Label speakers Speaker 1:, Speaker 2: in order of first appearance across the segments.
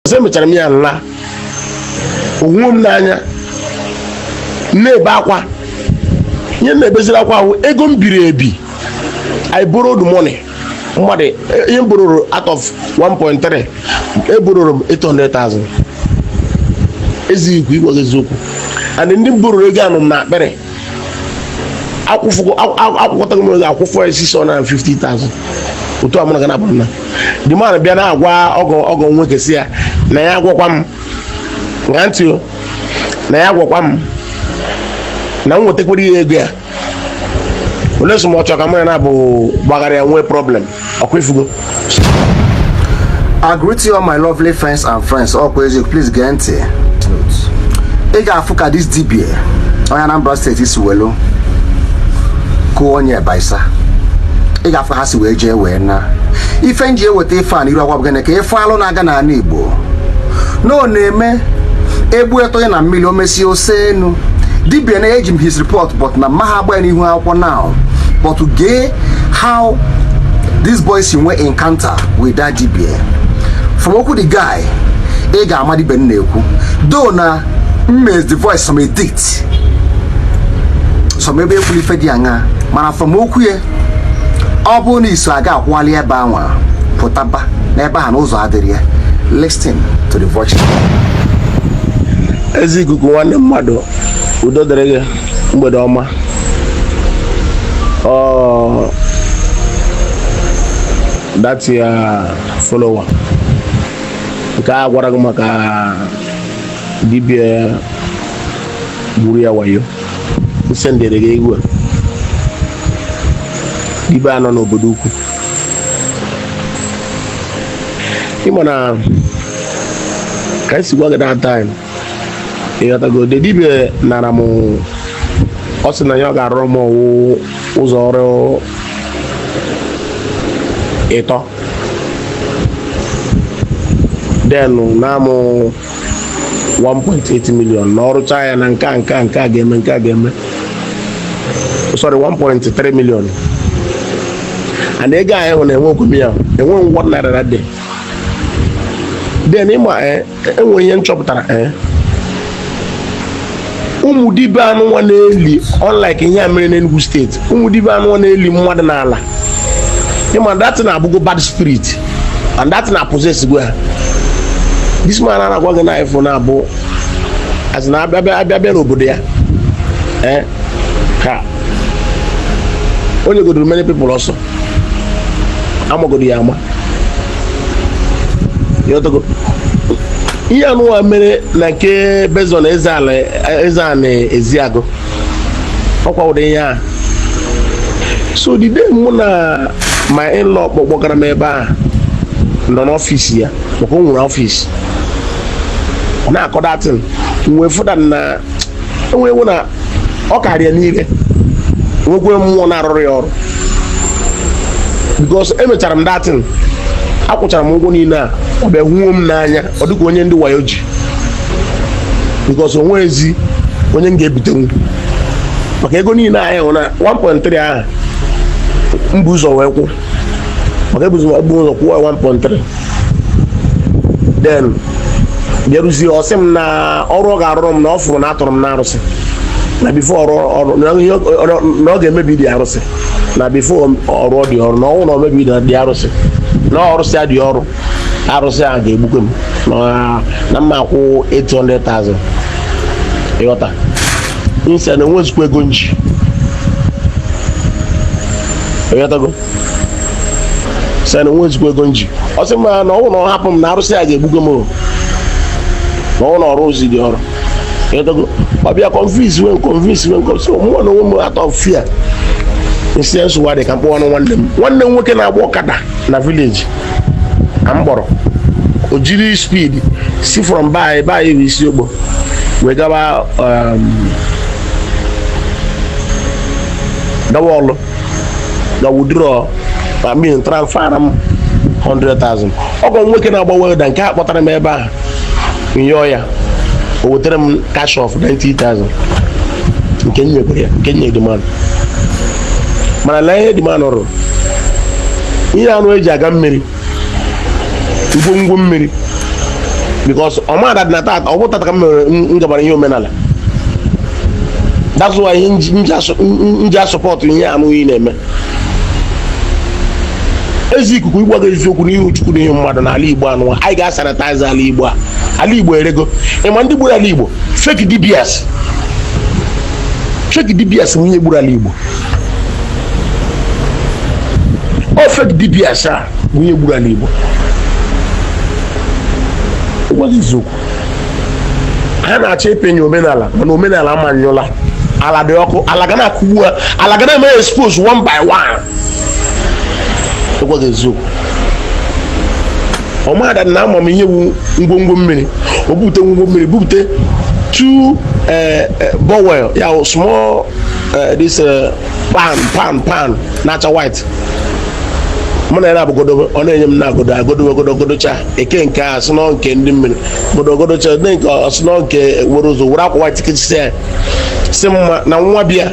Speaker 1: because emechara m ya nla onwe m n'anya na-ebe akwa ihe na-ebeziri akwa a wụ ego m biri ebi I borrowed money mmadụ eh, ihe m bororo out of 1.3 ebororo m 800,000 eziokwu ịgwa eziokwu and ndị m bororo ego anọ m n'akpịrị akwụkwatago m ego akwụfọ 650,000 otu a mụ na gị na-abụrụ na the man bịa na-agwa ọgọ ọgọ nwoke sị ya na ya agwakwa m ṅaa ntị o na ya agwakwa m na m wetakwara ya ego ya unless ma ọ chọrọ ka mụ ya na-abụ gbagharịa nwee problem ọkwa ị fụgo
Speaker 2: I greet you all my lovely fans and friends ọkwa eziokwu please gee ntị ị ga-afụ ka this dibia onye Anambra steeti si welu kụọ onye Bayelsa ị ga-afụ ka ha si wee jee wee na ife m ji eweta ife a n'iru akwa bụ gịnị ka ife alụ na-aga n'ala Igbo na ọ na-eme egbue tụnye na mmili o mesie o see enu dibia na eji m his report but na m maha agba ya n'ihu akwụkwọ now but gee how this boy si nwee encounter with that dibia from okwu the guy ị ga-ama dibia m na-ekwu though na m mezi the voice some edit some ebe ekwuru ife dị aṅa mana from okwu ya ọ bụrụ na ị so aga akwụghalị ebe anwa pụtaba n'ebe a na ụzọ adịrọ ya listen to the voice
Speaker 1: ezi ikuku nwanne mmadụ udo dịrị gị mgbede ọma oh that your follower nke a gwara gị maka dibia gburu ya wayo m sendere gị egwu a dibia a nọ n'obodo ukwu ịma na ka m si gwa gị that time ịghọtago the dibia nara m ọ sị na ya ọ ga-arụrụ m ọ wụ ụzọ ọrụ ịtọ then naa mụ 1.8 million na ọ rụchaa ya na nke a nke a nke a ga-eme nke a ga-eme sorry 1.3 million and ego anyị hụ na enwekwaghị m ya enweghị m one naira that day then ịma enwere ihe nchọpụtara eh? ụmụ dibia anụnwa na-eli unlike ihe a mere n'Enugu steeti ụmụ dibia anụnwa na-eli mmadụ n'ala ịma that thing abụgo bad spirit and that thing apossessgo ha this man a na-agwa gị na ife ọ na-abụ as na abịa abịa bịa n'obodo ya eh? ka onye godoro many people ọsọ amagodo ya ama ihe anụwa mere na nke bezon eze ana eziagụ ọkwa ụdị ihe a so the day mụ na my in-law kpọ- kpọgara m ebe a nọ n'ọfịs ya maka o nwere ọfịs ọ na-akọ that thing wee fụ that na enwewo na ọ karịa n'ire nwekwe mmụọ na-arụrụ ya ọrụ because emechara m that thing akwụchara m ụgwọ niile a ọ bịa huo m n'anya ọ dịka onye ndị wayo ji because o nwezi onye m ga-ebitenwu maka ego niile ahụ na 1.3 ahụ m bu ụzọ wee kwụọ maka ebuzi ụzọ kwụọ 1.3 then bịaruzie ọ sị m na ọrụ ọ ga-arụrụ m na ọ fụrụ na a tụrụ m n'arụsị na before ọ rụọ ọrụ na ihe ọ- ọ- na ọ ga-emebidị arụsị na before ọ rụọdị ọrụ na ọ wụ na o mebidị arụsị na ọ rụsịadị ọrụ arụsị a ga-egbukwe m na- na m ma-akwụ 800,000 ịghọta m sị na enwezikwa ego m ji ịghọtago sị na enwezikwa ego m ji ọ sị m na ọ wụ na ọ hapụ m na arụsị a ga-egbugo m na ọ wụ na ọ rụọzidị ọrụ ọ bịa convince m so mụwa na onwe m out of fear m sị nsogbu adị ka m kpọọnụ nwanne m nwanne m nwoke na-agba ọkada na village ka m kpọrọ o jiri speed si from by by isi ogbo wee gawa um, gawa ọlụ gaa withdraw I mean transferra m 100,000 ọgọ m nwoke na-agba welder nke a kpọtara m ebe ahụ m yọọ ya o wetara m cash of 90,000 nke m nyekwara ya nke m nye the man mana lee ihe the man rụrụ ihe anụ eji aga mmiri ngwongwo mmiri because ọmada dị na tata ọ bụ tata ka m mere m gabara ihe omenala that's why ihe m ji- m ji asụ- m- m ji a-support ihe anụ ị na-eme ezi ikuku ịgwa gị eziokwu n'ihu chukwu n'ihu mmadụ n'ala igbo anụwa, anyị ga-asanitize ala igbo a ala igbo erego ịma ndị gburu ala igbo fake dibias fake dibias wụ onye gburu ala igbo ọ fake dibias a bụ onye gburu ala igbo gwa gị eziokwu ha na-achọ ịpịnyụ omenala mana omenala ama anyụla ala dị ọkụ ala ga na-akụgbu ha ala ga na-eme expose one by one gwa gị eziokwu ọmada na ama m ihe wu ngwongwo mmiri o bupute ngwongwo mmiri bupute two eh, eh, bowl ya small eh, this eh, pan pan pan na-acha white mụ na ya na-abụgodo ọ na-enye m na-agọdo agọdo ọ gọdogọdocha eke nke ọ sị na ọ nke ndị mmiri gọdogọdocha ndị nke ọ sị na ọ nke were ụzọ were akwa white kechisie ya sị m na nwa bịa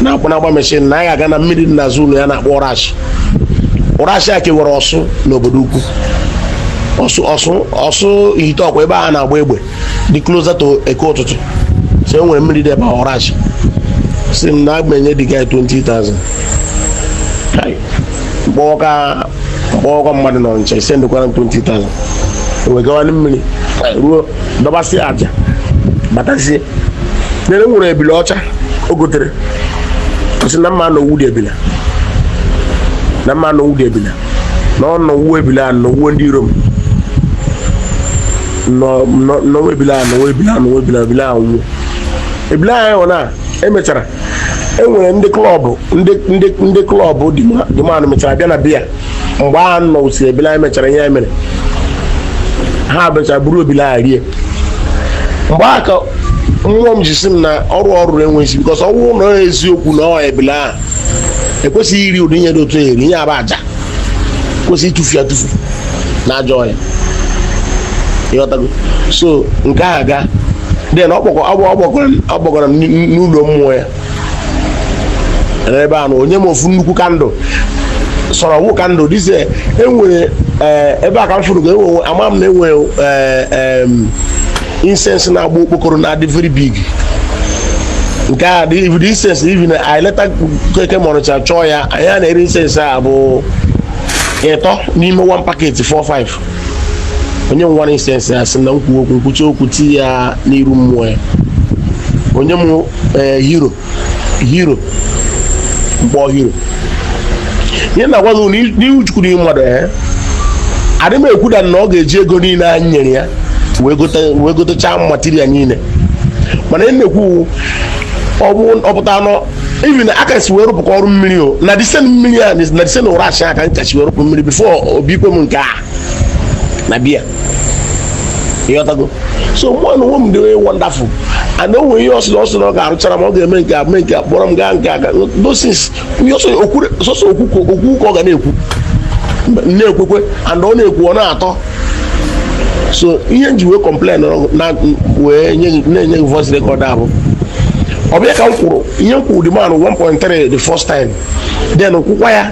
Speaker 1: na-akpụ na-agba machine na anyị aga na mmiri dị n'azụ ụlọ ya na-akpọ ụrashị ụrashị a kewere ọsụ na obodoukwu ọsụ ọsụ ọsụ ihite ụkwa ebe a na-agba egbe dị closer to eke ụtụtụ so e nwere mmiri dị ebe ahụ ụrashị sị m na aga m enye the guy 20,000 m kpọọkwa m kpọọkwa mmadụ nọ ọnịcha e sendikwara m 20,000 wee gawa na mmiri ruo dọbasịa aja batazie nere m nwere ebili ọcha o gotere ọ sị na m ma nọwude ebile a na m ma nọwude ebile a na ọ nọwuo ebile a nọwuo ndị iro m nọwa ebile a nọwa ebile a nọwa ebile ebile anwụọ ebile anyị hụ na e mechara e nwere ndị club ndị club the man mechara bịa na be ya mgbe a nọsị ebile anyị mechara ihe anyị mere ha mechara buru ebile a rie mgbe a ka mmụọ m ji sị m na ọrụ ọ rụrụ enweghị because ọ wụ na eziokwu na ọ ebile ahụ ekwesịghị iri ụdị ihe dị otu eri ihe aba aja kwesị ịtụfu ya atụfu na ajọ ọhịa ịghọtago so nke ahụ agaa then ọ kpọgoro m n'ụlọ mmụọ ya ebe a na o nye m ofu nnukwu candle sịrị ọ wụ candle dịzie enwere eh, ebe a ka m fụrụ ga enwe ama m na enwere eh, incense na-agba okpokoro na-adị very big nke a dị ibido incense even anyị later keke m ọnịcha chọọ ya anyị a na-ere incense a bụ ịtọ n'ime one packet 45 o nye m one incense a sị na m kwuo okwu m kwuchaa okwu ti ya n'iru mmụọ ya o nye m eh, hero hero mkpọ hero ihe m na-agwa gị n'ihu chukwu n'ihu mmadụ ya eh? adị m ekwuda na ọ ga-eji ego niile anyị nyere ya wee gotechaa material niile mana ihe m na-ekwu ọ pụta na ọ even aka si wee rụpụkwa ọrụ mmiri o na disen mmiri a na disen ụrashị aka ncha si wee rụpụ mmiri before ọ bịakwa mee nke a na be ya ịghọtago so mụ na onwe m dị onye wonderful and o nwere ihe ọ sị na ọ sị na ọ ga-arụchara m ọ ga-eme nke a mee nke a kpọrọ m gaa nke a that is sọsọ okwu ka ọ ga na-ekwu na-ekwekwe and ọ na-ekwu ọ na-atọ so ihe m ji wee complain wee na-enye gị voice record a bụ ọ bịa ka m kwụrụ ihe m kwụrụ the man 1.3 the first time then kwụkwa ya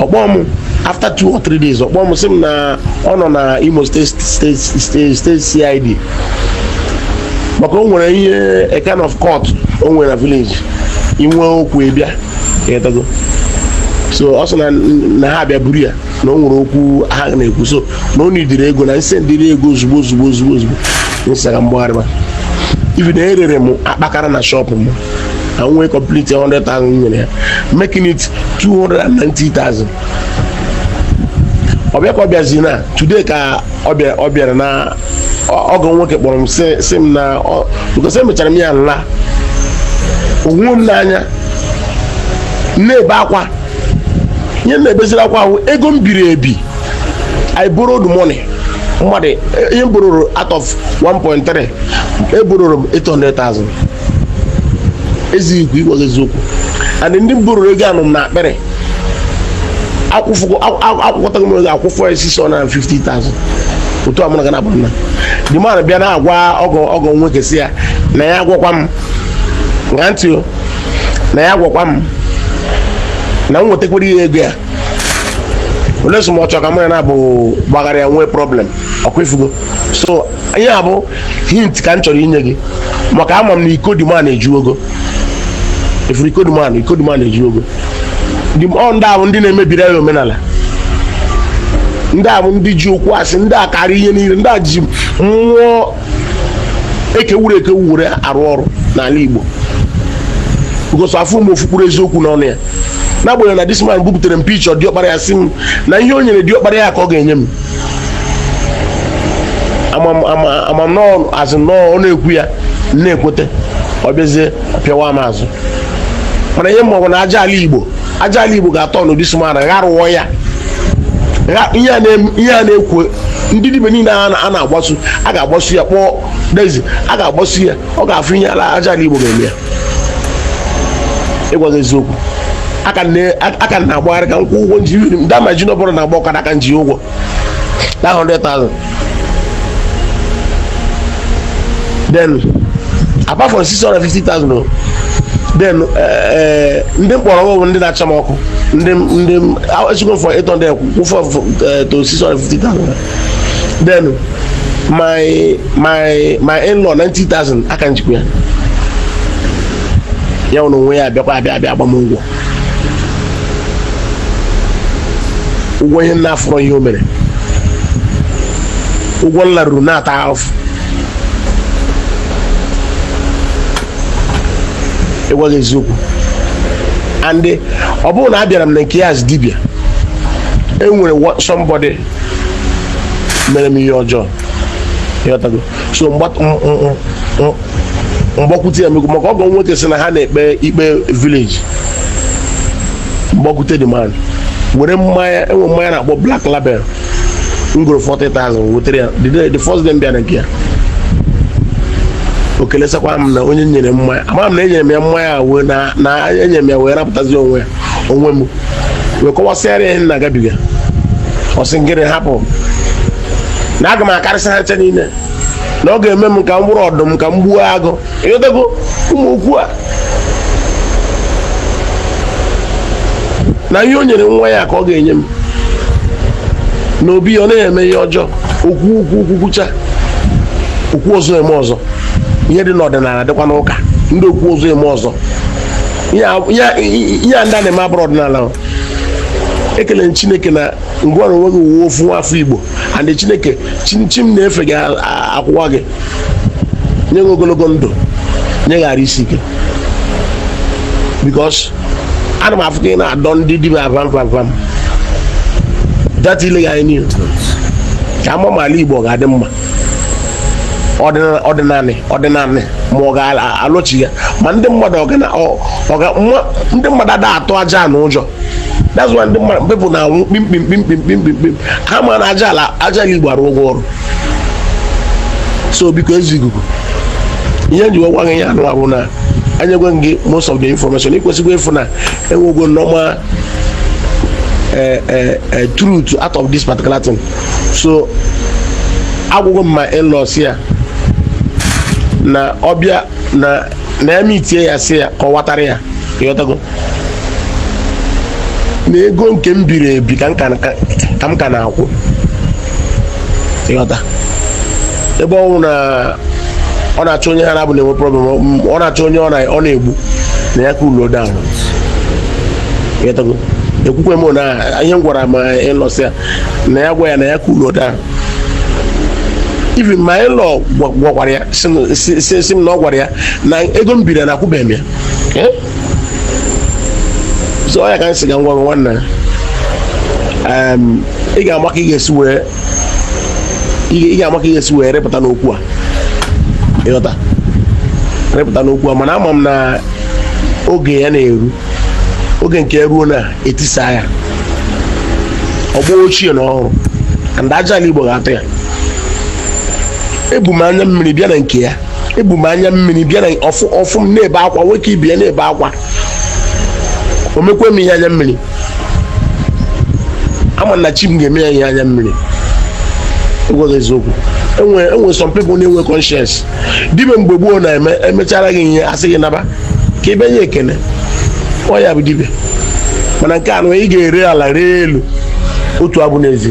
Speaker 1: ọ kpọọ m after two or three days ọ kpọọ m sị m na ọ nọ na Imo State CID maka o nwere ihe a kind of court o nwere na village inwe okwu ị bịa ị ghọtago so ọ sị na na ha abịa buru ya na o nwere okwu ha na-ekwu so na o nidiri ego na nse nidiri ego ozugbo ozugbo ozugbo ozugbo nsara m gbagharịba ibi na erere m akpakara na shop m na nwee complete 100,000 nyere ya making it 290,000 ọ bịa ka ọ bịazi na today ka ọ bịa- ọ bịara na ọ- ọgọ nwoke kpọrọ m sị- sị m na ọ- because emechara m ya nla onwe m n'anya na-ebe akwa ihe m na-ebeziri akwa wụ ego m biri ebi i borrowed money mmadụ ihe m bororo out of 1.3 ebororo m 800,000 eziokwu ịgwa gị eziokwu and ndị m bororo ego anọ m n'akpịrị akwụkatago m ego akwụfọ ya 650,000 otu a mụ na gana bụrụ na the man bịa na-agwa ọgọ ọgọ nwoke sị ya na ya gwakwa m na ntị na ya gwakwa m na m wetakwara ya ego ya unless m chọọ ka mụ na ya abụọ gbagharịa nwee problem ọ kwa ị fụgo so ihe a bụ hint ka m chọrọ inye gị maka ama m na iko the man ejugo efuru iko the man iko the man ejugo ndị ọ ndị a bụ ndị na-emebiri anyị omenala ndị a bụ ndị ji okwu asị ndị a karịa ihe niile ndị a ji mmụọ ekewuru ekewu were arụ ọrụ n'ala Igbo because afụrọ m ofu mkpụrụ eziokwu n'ọnụ ya n'agbanyeghị na this man bupụtara m picture diọkpara ya sị m na ihe o nyere diọkpara ya ka ọ ga-enye m amamazị nọọ ọ na-ekwu ya m na-ekwete ọ bịazie pịawa m azụ mana ihe m ma wụ na aja ala igbo aja ala igbo ga-atọnụ this man gharụọ ya ihe a na-ekwu ndị dibia niile a na-agbasu a ga-agbasu ya kpọọ dezi a ga-agbasu ya ọ ga-afụ ihe ala aja ala igbo ga-eme ya ịgwa gị eziokwu a ka m na- a ka m na-agbagharị ka m kwụ ụgwọ m ji even ndị a m ji na ọbụla na-agba ọkada a ka m ji ụgwọ na 100,000 then apart from 650,000 o, then eh, eh, ndị m bororo ego wụ ndị na-acha m ọkụ ndị m- ndị m- a- echego m from 800 kwụfọ eh, to 650,000 then my my my in-law 90,000 aka m ji kwụọ ya ya nwere onwe ya abịakwa abịa abịa agba m ụgwọ ụgwọ ihe m na-afụrọ ihe o mere ụgwọ m na-arụ ọrụ na-ata ahụfụ ịgwa gị eziokwu and ọ bụrụ na abịara m na nke ya as dibịa enwere somebody mere m ihe ọjọọ ịghọtago so m gbakwute ya mekwu maka ọgọ nwoke sị na ha na-ekpe ikpe village m gbakwute the man were mmanya enwe mmanya a na-akpọ black label m goro 40,000 wetere ya the first day m bịara nke ya o kelesakwa m na onye nyere mmanya ama m na enyere m ya mmanya wee na enyere m ya wee rapụtazi onwe ya onwe m wee kọwasịara ya ihe m na-agabiga ọ sị m gịrị hapụ na aga m akarịsị ha ncha niile na ọ ga-eme m ka m bụrụ ọdụm ka m gbuo agụ ịghọtago ụmụ okwu a na ihe o nyere nwa ya ka ọ ga-enye m na obi ya ọ naghị eme ihe ọjọọ okwu okwu okwu kwucha okwu ọzọ eme ọzọ ihe dị n'ọdịnala dịkwa n'ụka ndị okwu ọzọ eme ọzọ ihe a- ihe a- ihe a ndị a na-eme abụrọ ọdịnala o. ekele m chineke na gịnwa na onwe gị wụ ofu nwa afọ igbo and chineke chi- chi m na-efe ga- a- a- akwụwa gị nye gị ogologo ndụ nye gị arụ isi ike because ana m afụ ka ị na-adọ ndị dibịa vam vam vam data ile gị anyị niile ka ama ma ala igbo ọ ga-adị mma ọdịnanị ọdịnanị ma ọ ga-alọchigha ma ndị mmadụ ndị mmadụ ada atụ ajana ụjọ that's why ndị mmadụ people na-anwụ kpimkpim kpimkpim kpimkpim ha ma na aja ala aja gị gbara ụgwọ ọrụ so biko eze ikuku ihe m ji wee gwa gị ya anụa bụ na enyegwe m gị most of the information ị kwesịkwa ịfụ na enwego normal eh, eh, eh, truth out of this particular thing so agwagwo m my in-law sị ya na ọ bịa na na ya mitie ya sị ya kọwatara ya ịghọtago na ego nke m biri ebi ka m ka na- ka m ka na-akwụ ịghọta ebe ọ bụ na ọ na-achọ onye ha na-abụ na-enwe problem ọ- ọ na-achọ onye ọ na- ọ na-egbu na ya cool down ịghọtago ekwukwe m na ihe m gwara my in-law sị ya na ya gwa ya na ya cool down even my in-law gwakwara ya sị m na ọ gwara ya na ego m biri na akwụbeghị m ya eh? so ọ ya ka m sị ka m gwa nwanna ị ga-ama ka ị ga-esi wee ị ga-ama ka ị ga-esi wee repụta n'okwu a ịghọta repụta n'okwu a mana ama m na oge ya na-eru oge nke ruo na etisa ya ọgbọ ochie na ọhụrụ and aja ala igbo ga-atụ ya ebu m anya mmiri bịa na nke ya ebu m anya mmiri bịa na ọ fụ ọ fụ m na-ebe akwa nwoke ibe ya na-ebe akwa o mekwe m ihe anya mmiri ama m na chi m ga-eme ya ihe anya mmiri a gwa gị eziokwu enwe enwe some people na-enwe conscience dibịa mgbe gboo na-eme e mechara gị ihe a sị gị naba ka ị bịa nye ekene ọ ya bụ dibịa mana nke a nụ ị ga-ere ala ree elu otu abụ n'ezi